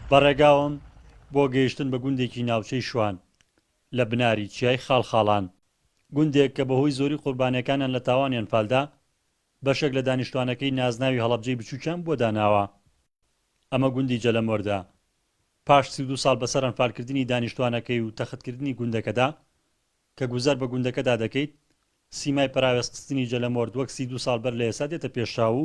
بە ڕێگاوم بۆ گەیشتن بە گوندێکی ناوچەی شوان لە بناری چیای خاڵخاڵان، گوندێک کە بەهۆی زۆری قوربانیەکانیان لە تاوانی ئەنفالدا، بەشێک لە دانیشتوانەکەی نازناوی هەڵەبجەی بچوکیان بۆ داناوە. ئەمە گوندی جەلەمۆردە. پاش سی و دوو ساڵ بەسەر ئەنفالکردنی دانیشتوانەکەی و تەختکردنی گوندەکەدا، کە گوزەر بە گوندەکەدا دەکەیت، سیمای پەراوێزخستنی جەلەمۆرد وەک سی دوو ساڵ بەر لە ئێستا دێتە پێشچاو و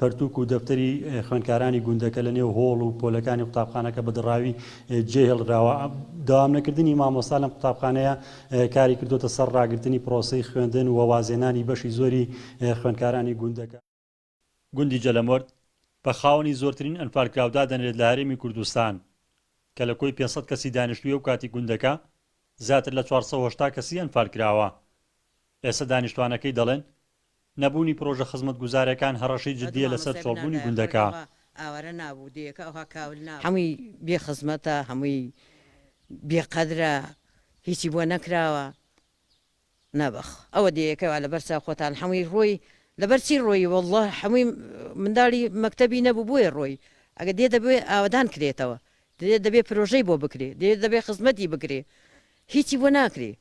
پەرتووک و دەفتەری خوێندکارانی گوندەکە لە نێو هۆڵ و پۆلەکانی قوتابخانەکە بە دڕاوی جێ هێڵدراوە. دەوام نەکردنی مامۆستا لەم قوتابخانەیە کاری کردۆتە سەر ڕاگرتنی پرۆسەی خوێندن و وازهێنانی بەشی زۆری خوێندکارانی گوندەکە. گوندی جەلەمەرد بە خاوەنی زۆرترین ئەنفال کراو دادەنرێت لە هەرێمی کوردستان کە لە کۆی پێنج سەد کەسی دانیشتووی ئەو کاتی گوندەکە زیاتر لە چوار سەد و هەشتا کەسی ئەنفال کراوە. ئێستا دانیشتوانەکەی دەڵێن نەبوونی پرۆژە خزمەتگوزارەکان هەڕەشەی جدییە لەسەر چۆڵبوونی گوندەکە. هەمووی بێ خزمەتە، هەمووی بێ قەدرە، هیچی بۆ نەکراوە. نابەخ. ئەوە دێیەکە وا لەبەر چاو خۆتان هەمووی ڕۆی، لەبەر چی ڕۆی واللە هەمووی منداڵی مەکتەبی نەبوو بۆیە ڕۆی. ئەگەر دێ دەبێ ئاوەدان کرێتەوە، دێ دەبێ پرۆژەی بۆ بکرێ، دێ دەبێ خزمەتی بکرێ. هیچی بۆ ناکرێ.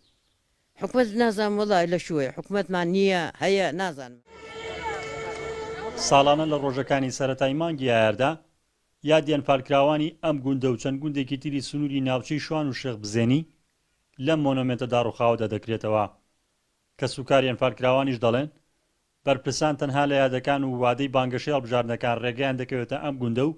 حکومەت نازانم وەڵا لە شووەیە حکومەتمان نییە هەیە نازانم. ساڵانە لە ڕۆژەکانی سەرەتای مانگی ئایاردا یادیانپارکراوانی ئەم گوندە و چەند گوندێکی تری سنوری ناوچەی شوان و شێخ بزێنی لەم مۆنۆمێنتە داڕوخاوەدا دەکرێتەوە. کەسوکاریان پارکراوانیش دەڵێن بەرپرسان تەنها لە یادەکان و وادەی بانگەشەی هەڵبژاردنەکان ڕێگەیان دەکەوێتە ئەم گوندە و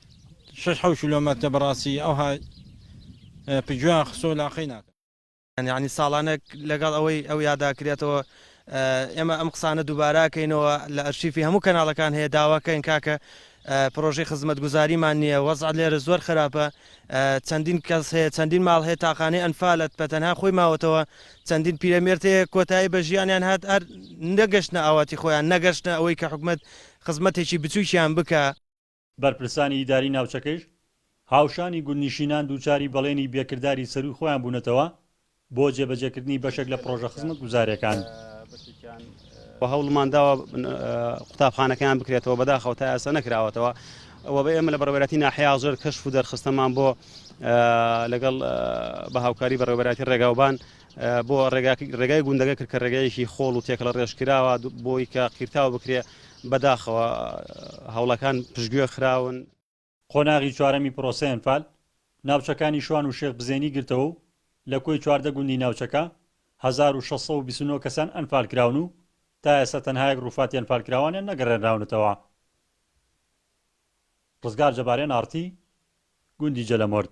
شەش حەوت کیلۆمەتە بەڕاستی ئەوها پگوێیان خستۆ لاقەی ناکەن. یانی ساڵانێک لەگەڵ ئەوەی ئەو یادا کرێتەوە ئێمە ئەم قسانە دووبارە ئەکەینەوە لە ئەرشیفی هەموو کەناڵەکان هەیە داواکەین کاکە پرۆژەی خزمەتگوزاریمان نییە وەزع لێرە زۆر خراپە چەندین کەس هەیە چەندین ماڵ هەیە تاقانەی ئەنفالت بە تەنها خۆی ماوەتەوە چەندین پیرەمێرد هەیە کۆتایی بە ژیانیان هات هەر نەگەشتە ئاواتی خۆیان نەگەشتە ئەوەی کە حکومت خزمەتێکی بچووکیان بکە بەرپرسانی ئیداری ناوچەکەیش هاوشانی گوندنیشینان دووچاری بەڵێنی بێکرداری سەرووی خۆیان بوونەتەوە بۆ جێبەجێکردنی بەشێک لە پڕۆژە خزمەتگوزارەکان. و هەوڵمان داوە قوتابخانەکەیان بکرێتەوە بەداخەوە تا ئێستا نەکراوەتەوە و بە ئێمە لە بەڕێوەتی ناحیا زۆر کەشف و دەرخستەمان بۆ لەگەڵ بە هاوکاری بەڕێوەبەراتی ڕێگاوبان بۆ ڕێگای گوندەکە کرد کە ڕێگایەکی خۆڵ و تێکەڵە ڕێژکراوە بۆی کە قیرتاو بکرێ بەداخەوە هەوڵەکان پشگوێ خراون. قۆناغی چوارەمی پرۆسەی ئەنفال، ناوچەکانی شوان و شێخ بزێنی گرتەوە و لە کۆی چواردە گوندی ناوچەکە هەزار و شەش سەد و بیست و نۆ کەسیان ئەنفال کراون و تا ئێستا تەنها یەک ڕووفاتی ئەنفالکراوانیان نەگەڕێنراونەتەوە. ڕزگار جەبارێن ئاڕتی گوندی جەلەمۆرد.